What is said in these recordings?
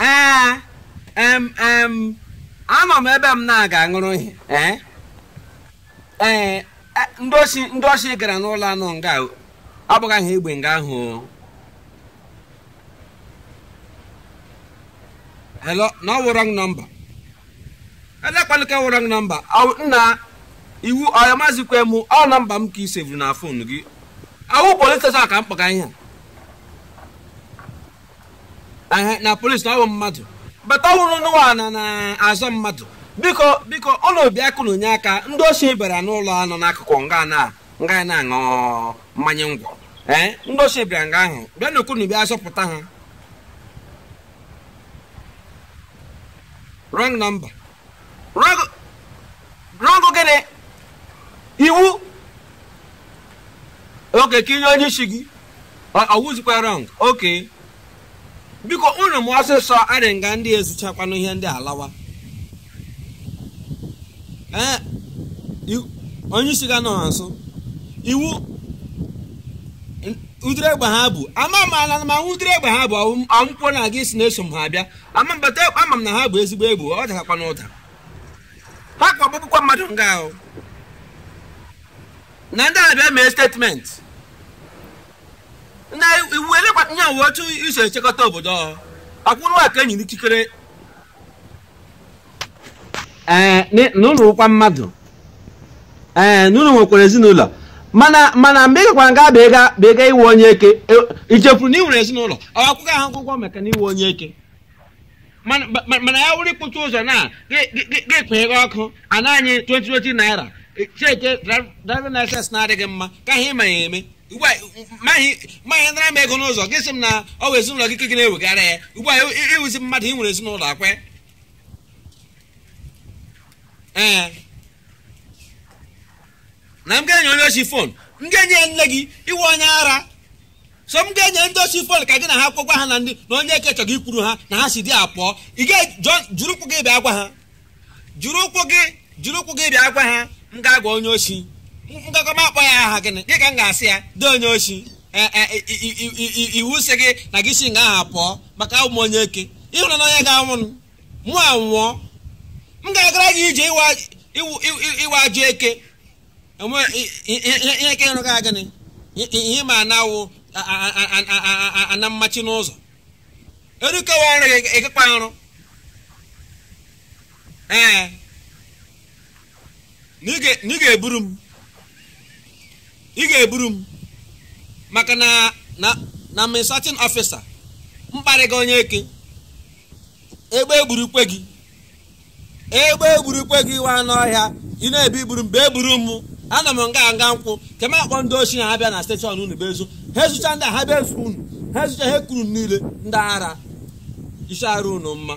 ee em em anọ m ebe m na-aga aṅụrụ ihe ee ee e, ndị osi ndị osi gara n'ụlọ a nọ nga o. a gbagha egbe nga ahụ o. hello na ọ wụ wrong number elekwanụ nke wụ wrong number Ọ- nna ị wụ ọya mazikwa m ọ nọmba m ka i sevuru na fon gị ọ wụ polis steshọn ka m kpọga ihe a Ehe, na polisi na ọ bụ mmadụ bata ọhụrụ n'ụwa na na-azọ mmadụ biko biko unu bịakwanụ nye aka ndị osi bịara n'ụlọ a nọ n'akụkụ nga na nga ya na-aṅụ mmanya ngwọ ee ndị osi bịara nga ahụ biko unu bịa zọpụta ha wrong number wrong gịnị ị wụ okay ka i nye onye isi gị ọ wụzikwa wrong okay biko unu mee ọsịsọ adị nga ndị ezuchakwanụ ihe ndị a alawa ee onye isi ga nọ ha nso ị wụ ụdịrị egbe ha bu ama m ala ma ụdịrị egbe ha bu ọ wụkwa na gị sị na eso m ha abịa ama mbata ama m na ha bu ezigbo egbe ọ daghakwanụ ụda ha kwa agbagbukwa mmadụ nga ahụ na ndị a bịa mee statement na iwu elekwa nye uwe otu i si echekọta obodo ọhụụ akwụrụ aka e nyere ikikere ee n- na unu wụkwa mmadụ ee na unu nwekwara ezinụlọ mana mana mgbe ị gakwara nga bụ ịga bụ ịga ịwụ onye eke e- i chefuru na ị nwere ezinụlọ ọ akwụkwọ ahụ akwụkwọ maka na ị wụ onye eke mana ma- mana ya wụrụ ikpuchi ụzọ na ga-ekpeghe ọkụ ana anyị 2020 naira cheke driving license na-adịghị mma ka ihe ị ma ya eme ugbu a ma ihe ma ihe nara m ego n'ụzọ gị sị m na ọ wụ ezinụlọ gị ka gị na-ewegara ya ugbu a ị wụzi mmadụ ị nwere ezinụlọ akwe ee na m ga-enye onye osi fon m ga-enye ya nne gị ị wụ onye ara so m ga-enye ndị osi fon ka gị na ha kwekwa ha na ndị na onye eke chọrọ ikwuru ha na ha si dị apụọ gị jiri ụkwụ gị bịa gwa ha jiri ụkwụ gị jiri ụkwụ gị bịa gwa ha m ga-agwa onye osi m gakọ m akpọ ya aha gịnị gị ka m ga-asị ya dee onye osi e, e, iwu sị gị na gị si nga ahụ pụọ maka awụ m onye eke ị hụrụ na onye ga-anwụ mụ anwụọ m ga-agara gị ije ị wụ ajọ eke ihe eke ịrụ ga gịnị ihe ma na-awụ ana mmachi n'ụzọ erukewa ọrụ gị ị gakwa arụ ee na ị ga-eburu m ị ga-eburu m maka na na na administrative officer mkparị gị onye ike egbe egburukwe gị egbe egburukwe gị nwa anụ ọhịa ị na-abịa iburu m bịa buru m anọ m nga nga nkwụ ka m akpọ ndị oshi na ha bịa na steshọn unu bịa ezu ha ezucha ndị ha bịa ezu unu ha ezucha ha ekuru niile ndị ara isi arụ unu mma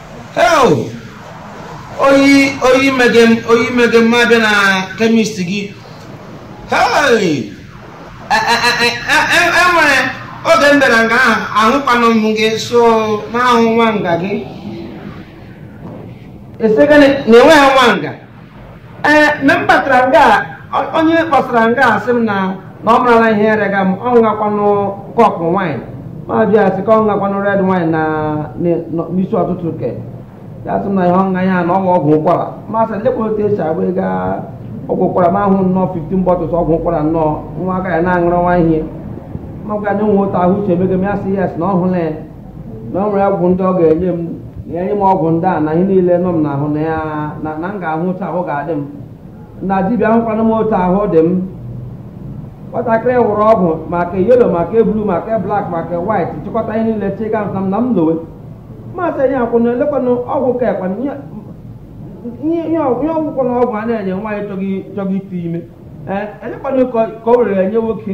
Hell! oyi oyi mege m oyi mege m abịa na kemist gị Hey! E- e- e- e- e- e nwere oge m bịara nga ahụ ahụkwanụ m gị so n'ahụ nwa nga gị esegene na enweghị nwa nga ee mgbe m batara nga a, ọ- onye kpọsara nga a sị m na na ọ marala ihe rịaga m ọ ṅụgakwanụ kọpụ wine m ajụ ya sị ka ọ ṅụgakwanụ red wine na na- na- n'isi ụtụtụ ke ya sị m na ihe ọṅụṅụ ya na ọ wụ ọgwụ ụkwara ma sị lekwa otu e si agba ego a- ọgwụ ụkwara m ahụ nnọọ 15 bottles ọgwụ ụkwara nnọọ nwa aka ya na-aṅụrụ nwa ihe ma gwa ya e nwe otu ahụ si emega m ya sị yes na ọ hụla ya na ọ nwere ọgwụ ndị ọ ga-enye m na enye m ọgwụ ndị a na ihe niile nọ m n'ahụ na ya na na m ga-ahụ otu ahụ ga-adị m na dibịa ahụkwana m otu ahụ dị m nwatakịrị wụrụ ọgwụ ma ke yellow ma ke blue ma ke black ma ke white chịkọta ihe niile chịga sị m na m lowe m asị onye akwụna elekwanụ ọgwụ ka ekwana ihe ihe ihe ọgwụ ihe ọgwụkwọ na ọgwụ a na-enye nwaanyị chọga chọga ite ime ee elekwanụ ka ka o were enye nwoke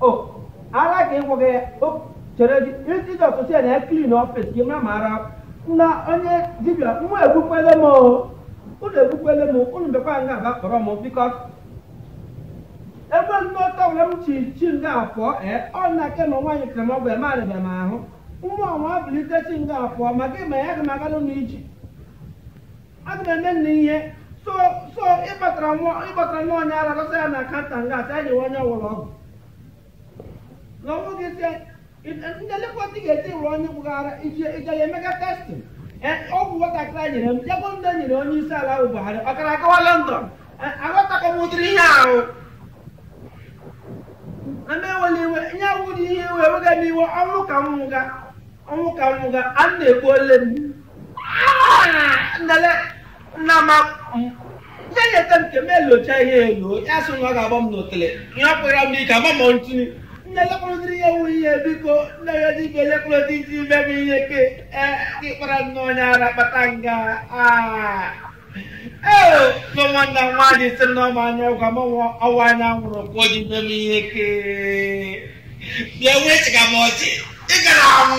o ala ka ịgwọ gị o chere gị isi dị ụtụtụ ya na ya klin ọfịs gị mara ma ara na onye dibịa nwa egbukwele m o unu egbukwele m unu bịakwa nga a bịa kpọrọ m biko ebe ndị ọtọ were m si si nga pụọ ee ọ na ke ma nwaanyị kere m ọgwụ eme arịbịa m ahụ nwa ọnwa bilite si nga pụọ ma gị ma ya gị ma agalụ n'iji aga m eme nna ihe so so ịkpatara nwa ịkpatara nwa onye ara lọsa ya na akanta nga asị anyị onye ṅụrụ ọgwụ na ọnwụ gị sị ndị lekọta ga-eti wụrụ onye gbụghara ije ije ya emega testing ọgwụ nwatakịrị a nyere m jegbo ndị nyere onye isi ala ahụ Buhari ọ gara agawa London aghọtakọ m ụdịrị ihe ahụ na m enwela iwe ihe awụdị ihe iwe ewega m iwe ọnwụ ka m nwụga ọnwụ ka m nwụga a na-ekwu ole m nnele nna ma ya nyeta m nke m elocha ihe elo ya sị na ọ ga-agba m n'otele ihe ọ kpụrụ m n'ike ama m ntụtụ nne lekọrọdịrị ya wụ ihe biko nne ya dị ibe lekọrọdị isi ime m ihe ke ee gị kpara nne onye ara kpata nga aa ee so nwanna m nwaanyị sị m na ọ ma anya ọgwụ ama m ọ wụ anya nwụrụ ka o ji ime m ihe ke bịa wee chịga m ọchị ị gara anwụ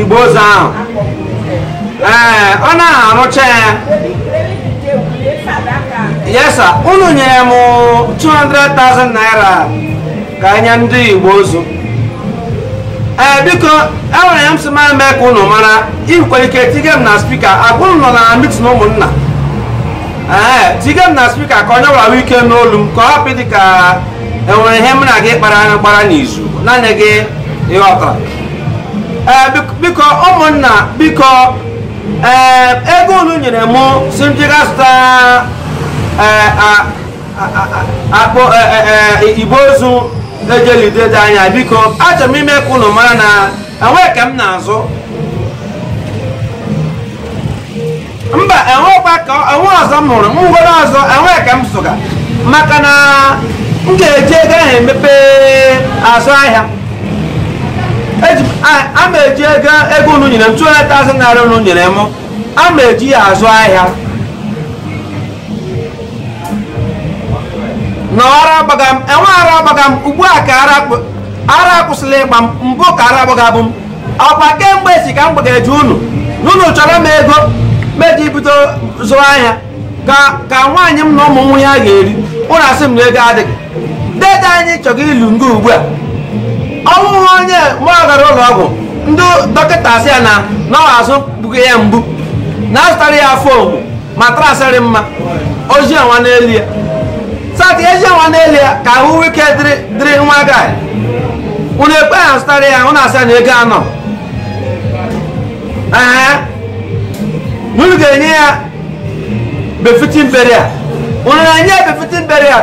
igbe ozu ahụ ee ọ naghị arụcha ya yes sa unu nyere m 200,000 naira ka e nye ndị igbe ozu ee biko enwere ihe m sị m mee ka unu mara i nwekwara ike tige m na spika agwa unu nọ na mitin ụmụnna ee tige m na spika ka onye ọbụla nwee ike nụ olu m ka ọ hapụ ịdị ka enwere ihe m na gị kpara gbara n'izu naanị gị ị ghọtara Eh, biko ụmụnna biko eh, ego unu nyere m sị m jega zụta eh, akpụ igbe ozu e ji eli dede anyị biko achọrọ m ime ka unu mara na enweghị ke m na-azụ mba enwekwa ka enwe ọzọ m hụrụ ngwere ọzọ enwe ke m zụga maka na m ga-eji ego ahụ emepe azụ ahịa Eji m- a- a ma eji ego ego unu nyere m 200,000 naira unu nyere m a ma eji ya azụ ahịa na ara agbaga m enwe ara agbaga m ugbu a ka ara akpụ- ara akwụsịla ịgba m mbụ ka ara gbagabu m ọkwa kemgbe si ka m gbageje unu na unu chọọrọ m ego m ji bido zụwa ahịa ka ka nwaanyị m na ụmụ nwee ihe ha ga-eri unu asị m na ego adịghị dede anyị chọrọ ili nga ugbu a ọ wụ onye mụ gara ụlọ ọgwụ ndị dọkịta asị ya na na ọ azụ gbuga ya mgbu na azụtara ya foam mattress dị mma ọ dinawa n'elu ya start edinawa n'elu ya ka ahụ nwee ike dịrị dịrị nwa gai unu ekweghị azụtara ya unu asị na ego anọghị ee unu ga-enye ya befitting burial unu na-enye ya befitting burial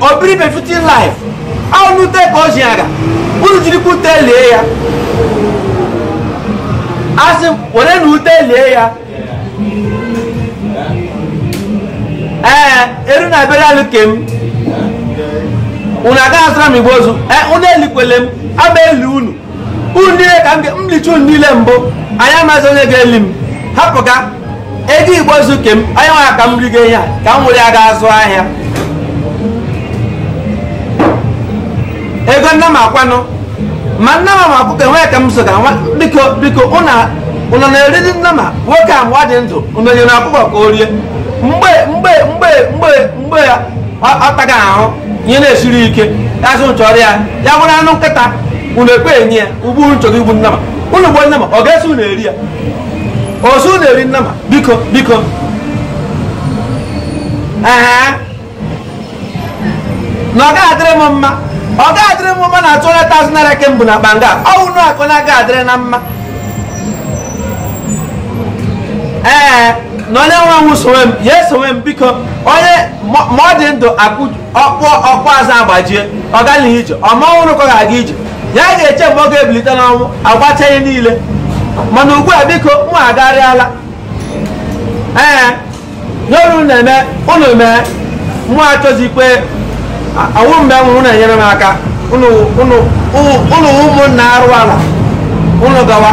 o biri befitting life ahụ ute ka o ji aga unu jirikwa ute lie ya asị m were na ute lie ya ee eru na burial ke m unu agaghị azụra m igbe ozu ee unu elikwele m ama eli unu unu niile ka m ga- m licha unu niile mbụ anyị amazi onye ga-eli m hapụ ka ego igbe ozu ke m anyị nwere ka m rigo ihe a ka m were ya ga azụ ahịa ego nama kwanụ ma nama ma ọkụkọ enweghị ke m zụga nwa biko biko unu unu na-eriri nama nwoke a mgbe ọ dị ndụ unu nyere ọkụkọ ka o rie mgbe mgbe mgbe mgbe mgbe ya ọ- ọ taga ahụ ihe na-esiri ike ya sị chọọrọ ya ya bụrụ anụ nkịta unu ekwe enye ya ugbu unu chọrọ igbu nama unu gbuo nama ọ ga-eso unu eri ya ozu na-eri nama biko biko ee na ọ gaghị adịrị m mma ọ gaghị adịrị m mma na 200,000 naira ke mbụ na akpa nga ọ wụ na akụ na-aga adịrị na mma ee na onye nwe nwụ sowe m ya esowe m biko onye ma ma ọ dị ndụ akụ ọkpụkpụ azụ agbajie ọ gaghị ije ọ ma ọ hụrụ ka ọ ga-aga ije ya ga-eche mgbe ọ ga-ebilite n'ọnwụ agbacha ihe niile mana ugbu a biko mụ agarịala ee n'ọrụ unu na-eme unu mee mụ achọzikwe ọ wụ mgbe m nwụrụ na-enyere m aka unu unu wụ ụmụnna arụ ala unu gawa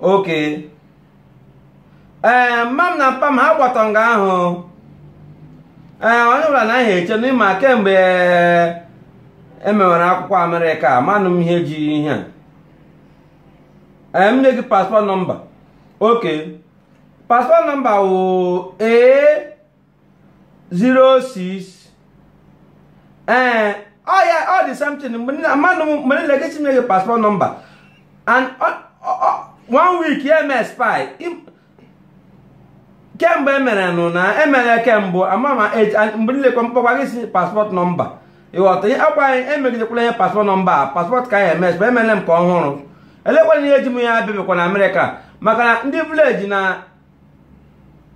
okay ee eh, mma m na mpa m ha gbatọ nga ahụ ee eh, onye ọbụla na ahịa eche na ị ma kemgbe e mewere eh, e akwụkwọ america amanụ m ihe ji ihe a m nye gị passport number okay passport number wụ ee 06 ee eh, ọ ya ọ dị something mmadụ mgbe niile gị chinye gị passport number and one week ya expire kemgbe emere nụ na emere kemgbe ama ma mgbe niile kwa mkpọkwa gị sị passport number ị ghọta ihe akwa anyị emegidekwala ihe passport number a passport ka anyị expire emere m ka ọhụrụ elekwana ihe ji m ya abịabịakwa na america maka na ndị village na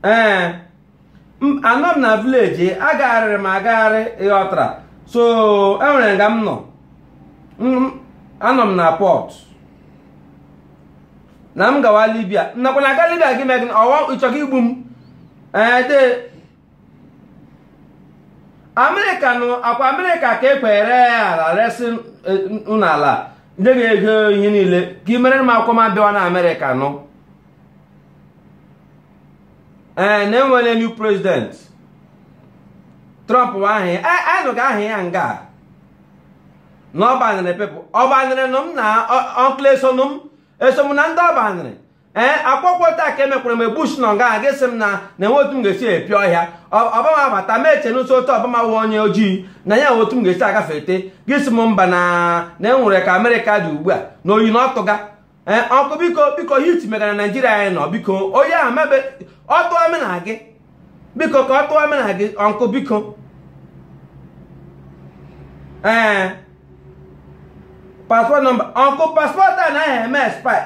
ee anọ m na village agagharịrị m agagharị ị ghọtara so e nwere nga m nọ anọ m na port na m gawa libya nakwa na-aga libya gị megị ọwa ị chọkwa igbu m ee the america nụ ọ kwa america ka e kwere e resi nụ ala ndị ga-ego ihe niile ka e mere m akwụkwọ m abịawa na america nụ ee eh, na e nwere new president trump bụ aha ya eh, anyị nụga aha ya nga na ọ banịrị people ọ banịrị nụ m na uncle esonụ m eso m na ndị ọ banịrị ee eh, akwụkwọ taa ka emekwara m bush nọ nga a ga-asị m na na enwe otu m ga-esi epio ọhịa obama abata m eche n'ụsọ otu obama wụ onye ojii na e nwe otu m ga-esi agafe ete gị sị m mba na na e nwere ka america dị ugbu a na oyi na-atụga ee ọnkụ biko biko hit megara naijiria anyị nọ biko onye ahụ mebe otu ọ mena gị biko ka otu ọ mena gị ọnkụ biko ee paspọt nọmba ọnkụ paspọt a naghị eme expire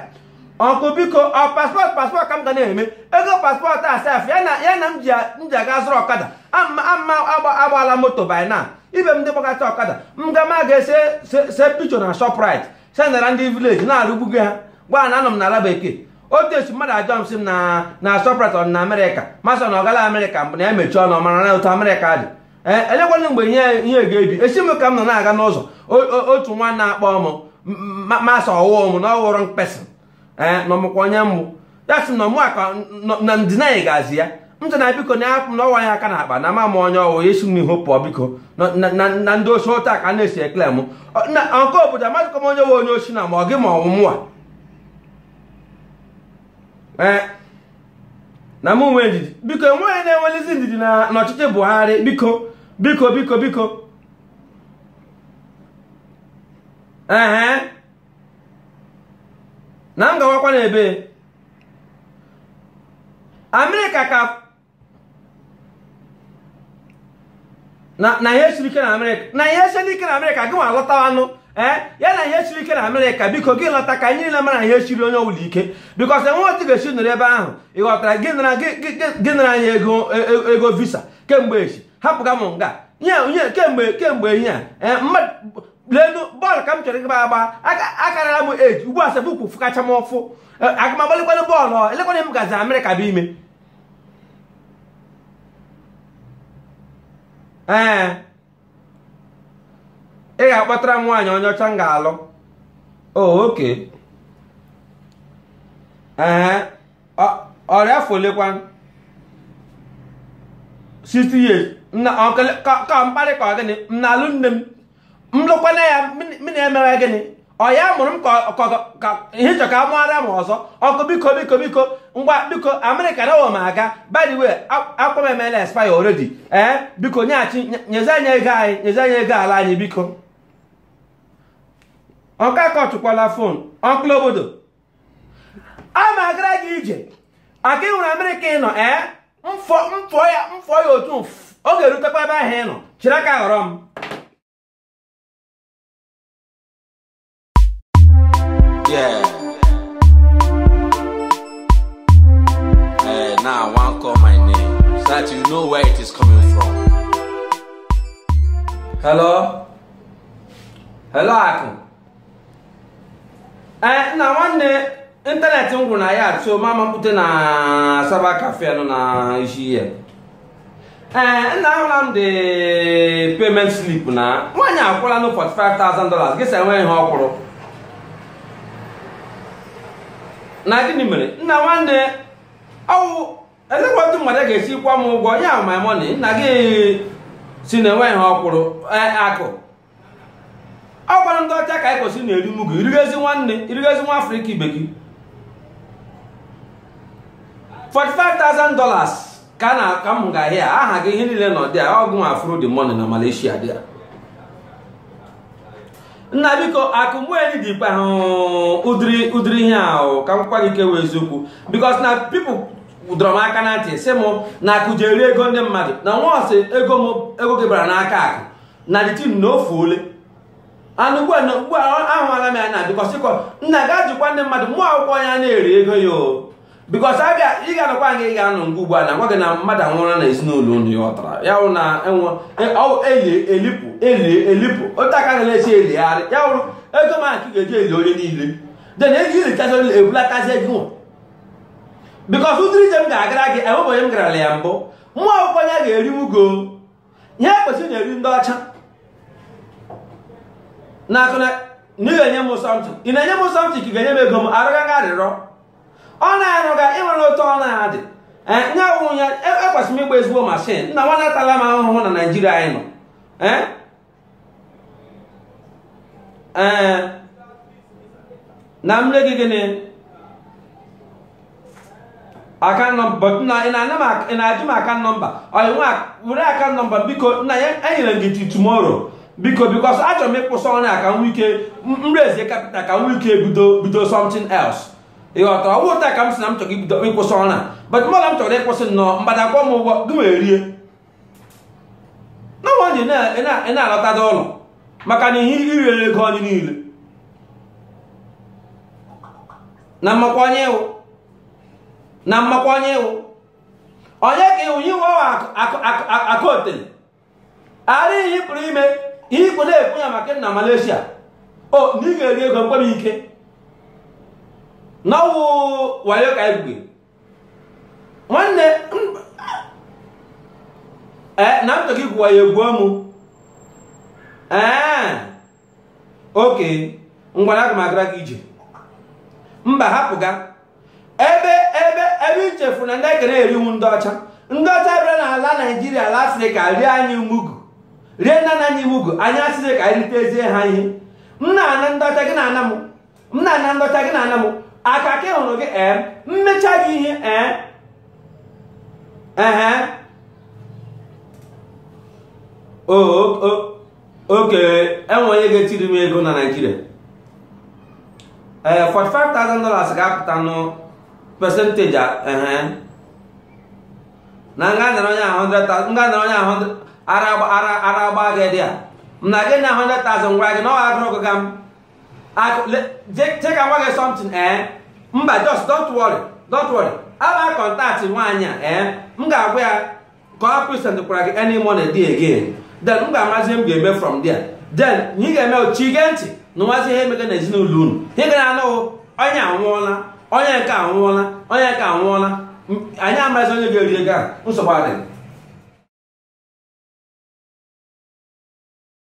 ọnkụ biko ọ paspọt paspọt ka m ga na-eme ego paspọt a sef ya na ya na m ji m ji aga zụrụ ọkada ama ama agba- agbaala moto by now ibe m ndị gbakata ọkada m ga ma ga-ese se se picture na shoprite sendara ndị vileji na-arụgbugo ha gwa ha na anọ m n'ala bekee otu esi mmadụ ajụọ m sị m na na shoprite ọ dị na amerịka m asị ọ na ọ gala amerịka mbụ na ya mechie ọnụ ọ mara otu amerịka dị ee elekwanụ mgbe ihe ihe ga-ebi esi m ka m nọ na-aga n'ụzọ o- o- otu nwa na-akpọ m m asị ọ wụ m na ọ wụrụ mkpesị ee eh, na ọ makwa onye m bụ ya sị na ọ ma ka na ndịna anyị ga-azị ya m sị na biko na ya na ọwa ya aka na akpa na ama m onye ọ wụ si m n'ihu pụọ biko na ndị osi ụta ka a na-esi ekele m na nke obodo amadịkwa m onye wụ onye osi na ma ọ gị ma ọ wụ mụwa ee eh, na m nwee ndidi biko enweghị na-enwelizi ndidi n'ọchịchị Buhari biko biko biko biko Uh-huh. na m gawakwa n'ebe amerịka ka na ihe siri ike na amerịka na ihe siri ike na amerịka gị nwa lọtawanụ ee eh, ya na ihe siri ike na amerịka biko gị lọta ka anyị niile mara ihe siri onye ọbụla ike because enwe otu ị ga-esi nọrọ ebe ahụ ị ghọtara gị nara anyị e, ego visa kemgbe echi hapụga m nga nye kemgbe kemgbe ihe a eh, lenu bọọlụ ka m chọrọ ịgba agba akarala m eji ugbu a sef ụkwụ fụkacha m ụfụ e, aga m agbalikwanụ bọọlụ elekwanụ m gazi amerịka bụ ime ee ị ga-akpọtara m nwaanyị onye ọcha m ga-alụ oh, okay ee ọ dị afọ olekwa 60 years ka mkparị ka gịnị m na-alụ nne m m lụkwanụ ya m na-emewe gịnị ọ ya mụrụ m ka ị chọ ka mụara m ọzọ ọnkụ biko biko biko ngwa biko amerịka na ụwa m aga by the way akwụkwọ m emela expire already ee eh, biko nyeghachi nyezie anyị ego anyị nyezie anyị ego ala anyị biko ọnkụ akọtụkwala fon ọkụla obodo a na-agara gị ije aka ịhụrụ amerịka ị nọ ee mfọ mfọ ya mfọ ya otu ọ ga-erutekwa ebe ahụ ị nọ chịrị aka ghọrọ m Yeah. Hey, now I want call my name so that you know where it is coming from. Hello? Hello, Uncle. ee nna nwanne internet m gwụrụ na ya so m mapụta na cyber cafe nọ na isi ihe ee nna ahụla m the payment slip na nwaanyị akwụọla nụ 45,000 dollars gị sị enweghị ihe ọ kwụrụ na gịnị mere nna nwanne ọwụ elekwa otu mmadụ ga-esi kwụọ m ụgwọ ya my money nna gị sị na enweghị ihe ọ kwụrụ ee akụ ọ kwara ndị ọcha ka i kwesịrị na-eri mugu irigezi nwanne irigezi nwa afrịka ibe gị 45,000 dollars ka na ka m ga ahịa aha gị ihe niile nọ dị a ọgụ nwa for the money na malaysia there nna biko akụ mgbeeli dị ikpe ahụ ụdịrị ụdịrị ihe ahụ ka m gwa gị kewa eziokwu because na people dọrọ m aka na ntị sị m na akụ ji eri ego ndị mmadụ na once ego m ego gị bara n'aka akụ na the thing na o fuole anụ ugbu a na ugbu a ahụala m ya na because akụ nna ga ajụkwa ndị mmadụ mugu akwụọ ya na-eri ego ya o because abịa ị ga-anọkwa nga ị ga-anọ nga ugbu a na nwa gị na mmadụ anwụrụ na ezinụlọ unu ya ọtara ya wụ na enwe e- ọ wụ eli elipụ eli elipụ otu aka ga na-esi eligharị ya wụrụ ego ma ka ị ga-eji eli onye niile then ego ilitazi onye ebulatazi ego nwa because ụdịrị ije m ga-agara gị enweghị onye m garala ya mbụ mugu akwụọ ya ga-eri m ego ihe ekwesịrị na-eri ndị ọcha nna akụ na ị ga-enye m something ị na-enye m something ka ị ga-enye m ego m arịọgaghị arịrịọ ọ na-arụga o nwere otu ọ na-adị ee nye awụrụ ya ekwesịrị m ịgba ezigbo mashin nna nwanne atala m ahụhụ na naijiria anyị nọ ee ee na m nye gị gịnị account number na ị na-ana m ị na-ajụ m account number oya ngwa were account number biko nna ya enyere m gị till tomorrow biko because achọrọ m ịkwụsị ọrụ a ka m ike raise capital ka m ike bido bido something else ịghọta ọwụ ụta ka m si na m chọrọ ibido ịkwụsị ọrụ a but mmadụ m chọrọ ịkwụsị nnọọ mgbada akwụọ m ụgwọ gị wee rie na nwaanyị na-alọtada ụlọ maka na ihe i riri ego anyị niile na m makwa onye ị wụ na m makwa onye ị wụ onye ka ị wụ iwe akụotele ara ihe pụrụ ime ikwu na-ekwu ya maka na Malaysia o na ị ga-eri ego mkpere ike n'ọwụ wayo ka anyị nwanne ee na ntọ gị gwụwa ya egbuo mụ ee oke ngwa aga m agara gị ije mba hapụ ga ebe ebe ebe i chefu na ndị nke a na-eri wụ ndị ọcha ndị ọcha bịara n'ala naijiria ala asịrị ka ha rie anyị mugu rie nna nna anyị mugu anyị asị ka anyị ritezie ha ihe m na-ana ndị ọcha gị na-ana m m na-ana ndị ọcha gị na-ana m aka ka ị hụrụ gị ee m mechaa gị ihe ee ehe oke e nwere onye ga-etiri m ego na naijiria ee 45,000 dollars ga-apụta nụ percentage ehe na m ga-anara onye ahụ 100,000 m ga-anara onye ahụ ara agba gị there m na gị na 100,000 gwara gị na ọ agụrụ gị ga m Akụ- le- je- je ka m gwa gị something ee mba just don't worry don't worry I'll contact nwaanyị a ee m ga-agwa ya ka ọ present kwara gị any money dị again then m ga-amarazi ihe m ga-eme from there then ihe ị ga-eme bụ chi gee ntị nụwazi ihe emega n'ezinụlọ unu ihe ị ga na-anụ bụ, onye anwụọla onye nke anwụọla onye nke anwụọla M- anyị amaghịzi onye ga-eri ego ahụ nsogbu adịghị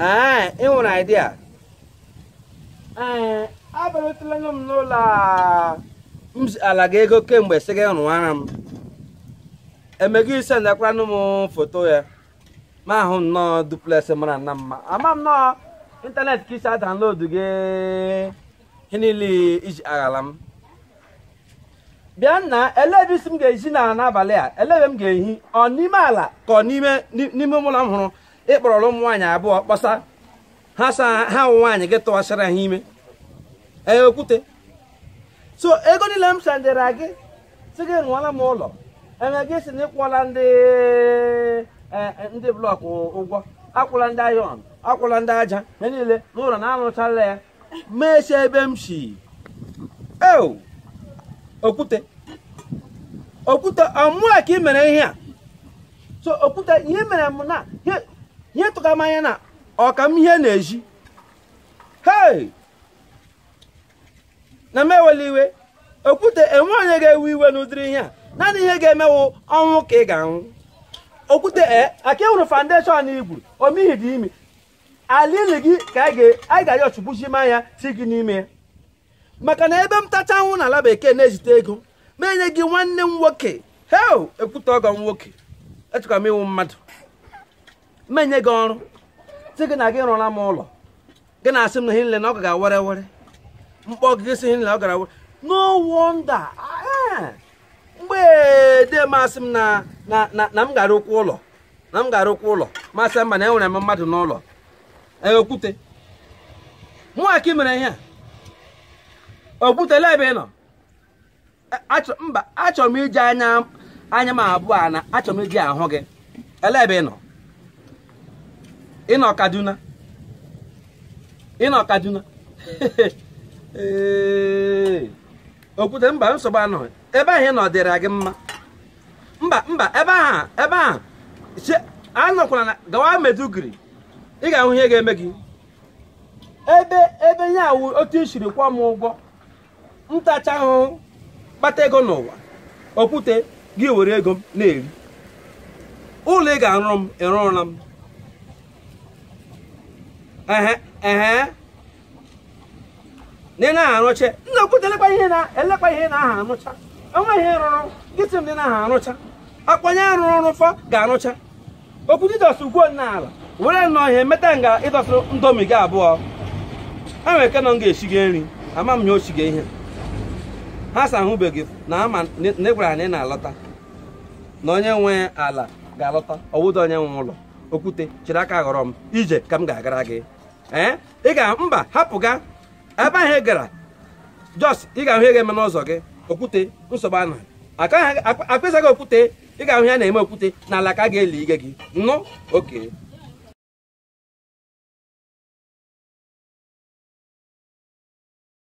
ee ị nwere idea ee abịarutela nụ m n'ụlọ a m ziara gị ego kemgbe sị gị rụwara m eme gị i sendikwaranụ m foto ya m ahụ nnọọ duplex mara nna mma ama m nnọọ ịntanetị ka i si download gị ihe niile i ji aghala m bịa na-ele ebe ị sị m ga-ehi n'ala n'abalị a ele ebe m ga-ehi ọ n'ime ala ka ọ n'ime n'ime ụlọ m hụrụ ị kpọrọ ụmụ nwaanyị abụọ kpọsa ha sa ha ụmụ nwaanyị gị tụwasịrị ha ime ee okwute so ego niile m sendịra gị sị gị rụọla m ụlọ eme gị ị sị na ị kwụọla ndị e, e, ndị blọkụ ụgwọ akwụọla ndị iron akwụọla ndị aja ha niile na ụlọ na arụchaala ya meche ebe m si eo okwute okwute ọ mụa ka i mere ihe a so okwute ihe mere m na ihe- ihe tụka m anya na ọka m ihe na-eji hei na m ewela iwe okwute e nwe onye ga-ewe iwe n'ụdịrị ihe a naanị ihe ga-eme wụ ọnwụ ka ị ga-anwụ okwute e aka ị hụrụ foundation i gwuru o mihi dị imi ala ili gị ka anyị ga- anyị ga-ayọ chukwuchima ya ti gị n'ime ya maka na ebe m tacha ahụhụ na ala bekee na-ezite ego m enye gị nwanne m nwoke he okwute ọgọ m nwoke echekwa m ị wụ mmadụ m enye gị ọrụ sị gị na gị rụọla m ụlọ gị na-asị m na ihe nile na ọ gara were were m kpọọ gị sị ihe nile ọ gara were no wonder ah, mgbe dee m asị m na na na na m ga-arụkwa ụlọ na m ga-arụkwa ụlọ m asị mba na enwere m mmadụ n'ụlọ ee okwute mụnwa ka ị mere ihe a okwute lee ebe ị nọ A- achọ mba achọrọ m iji anya anya m abụọ a na achọrọ m iji ahụ gị ele ebe ị nọ ị nọ kaduna ị nọ kaduna Ee, okwute mba nsogbu anọghị ebe ahụ ị nọ dịrị gị mma mba mba ebe ahụ ebe ahụ che anọkwala na gawa maiduguri ị ga-ahụ ihe ga-eme gị ebe ebe ihe a wụ otu i siri kwụọ m ụgwọ m tachaa ahụhụ kpata ego n'ụwa okwute gị were ego m na-eri ụlọ ị ga-arụrụ m ị rụrụla m ehe ehe na ị na aha arụcha nna okwute lekwa ihe a lekwa ihe ị na aha arụcha o nweghị ihe ị rụrụ gị sị m na ị na aha arụcha ọ kwa onye rụrụ rụfọ ga-arụcha okwute ịdọsụ ugwo nna ala were nnọọ ihe meta nga ịdọsụ ndomi gị abụọ ha nwere ike nọ m ga-esiga nri ama m ya osiga ihe ha sa ahụbeghị na ama na ị gwara ha na ị na-alọta na onye nwe ala ga-alọta ọ wụdị onye nwe ụlọ okwute chịrị aka ghọrọ m ije ka m ga-agara gị ee ị ga mba hapụ ga ebe ahụ ị gara jos ị ga-ahụ ihe ga-eme n'ụzọ gị okwute nsogbu anọ akpịsaghị okwute ị ga-ahụ ya na-eme okwute n'ala ka a ga-eli gị gị na oke